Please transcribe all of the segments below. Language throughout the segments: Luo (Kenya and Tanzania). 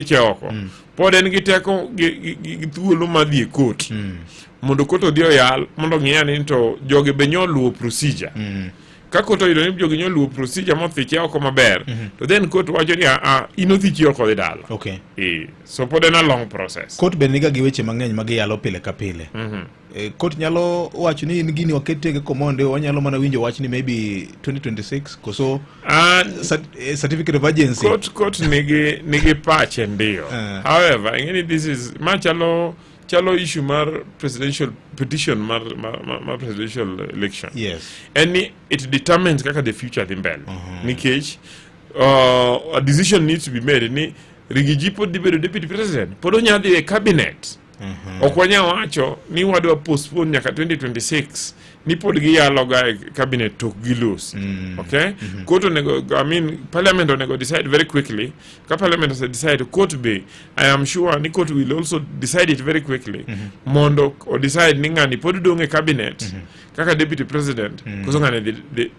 weche oko pod en gi teko gi- gi gi- gi thuolo ma dhi e kot mondo kot odhi oyal mondo ong'i ane ni to jogi be nyo luwo procedure ka kot oyudo ni jogi nyo luwo procedure mothiche oko maber to then kot wacho ni aa in othichi oko dhi dala okay Eh, so pod en a long process kot be niga gi weche mang'eny ma giyalo pile ka pile E, kot nyalo wacho ni in gini waketege komonde wanyalo mana winjo wach ni maybe 2026 koso ah, e, certificate of agency kot kot nigi nigi pache ndio uh. however ingeni this is ma chalo chalo issue mar presidential petition mar, mar, mar, mar presidential election yes and it determines kaka the future dhi mbele uh -huh. nikech uh, a decision needs to be made ni Rigiji pod dhi bedo deputy president pod onya dhi e cabinet Mhm. Ok wanyal wacho ni wadwa postpone nyaka 2026 ni pod giyaloga e cabinet tok gilos. Mm. Okay? Mm -hmm. Court onego, I mean, parliament onego decide very quickly. Ka parliament ose decide, court be, I am sure ni court will also decide it very quickly. Mm -hmm. Mondo o decide ni ngani pod dong e cabinet mm -hmm. kaka deputy president mm -hmm. koso ngani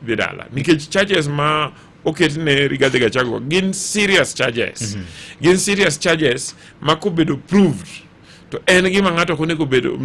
dhi dala. Nikech charges ma oket ne Rigathi Gachagua gin serious charges mm -hmm. gin serious charges ma kobedo proved to en gima ng'ato ok onego bedo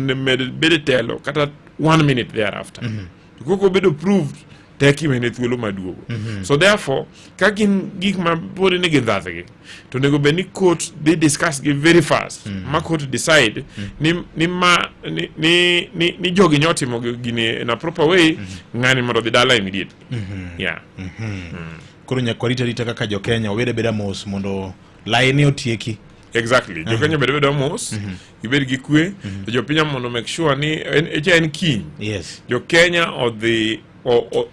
bedo telo kata one minute thereafter mm -hmm. kok obedo proved tek imene thuolo maduogo mm -hmm. so therefore ka gin gik ma pod ni gindhathgi to onego bed ni court dhi discuss gi very fast mm -hmm. ma court decide mm -hmm. ni, ni, ma, ni, ni, ni, ni jogi nyotimo gini in a proper way mm -hmm. ng'ani mondo dhi dala immediate Mhm. yeah mhm. koro nyaka warita rita kaka jokenya wabed abeda mos mondo laini otieki exactly jokenya bed abeda mos mhm. ibed gi kwe to jopiny mondo make sure ni echa en kiny yes jokenya odhi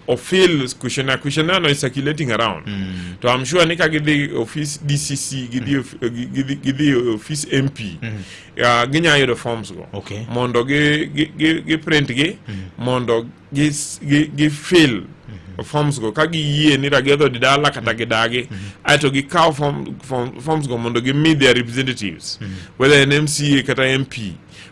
ofil kushona kushona no is circulating around mm. to i'm sure ni ka gidhi office dcc gidhi mm. gidhi office mp mm. uh, ginya yudo forms go okay. mondo gi, gi, gi, gi print gi mm. mondo gi, gi, gi fil mhm. forms go ka giyie ni ragiodho di dala kata mhm. gidagi mm -hmm. aeto gikaw form, form, forms go mondo gimi their representatives mm -hmm. whether an mca kata mp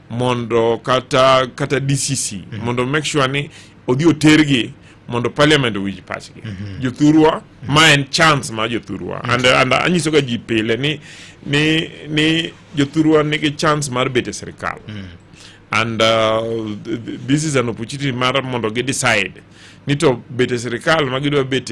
mondo kata kata dcc mm -hmm. mondo make sure ni odhi otergi mondo parliament owinj pachgi mm -hmm. jothurwa mm -hmm. ma en chance ma jothurwa mm -hmm. and, and anyisoga ji pile ni, ni, ni jothurwa nigi chance mar bet e sirikal mm -hmm. and uh, this is an opportunity mar mondo gi decide ni to bete sirikal ma gidwa bete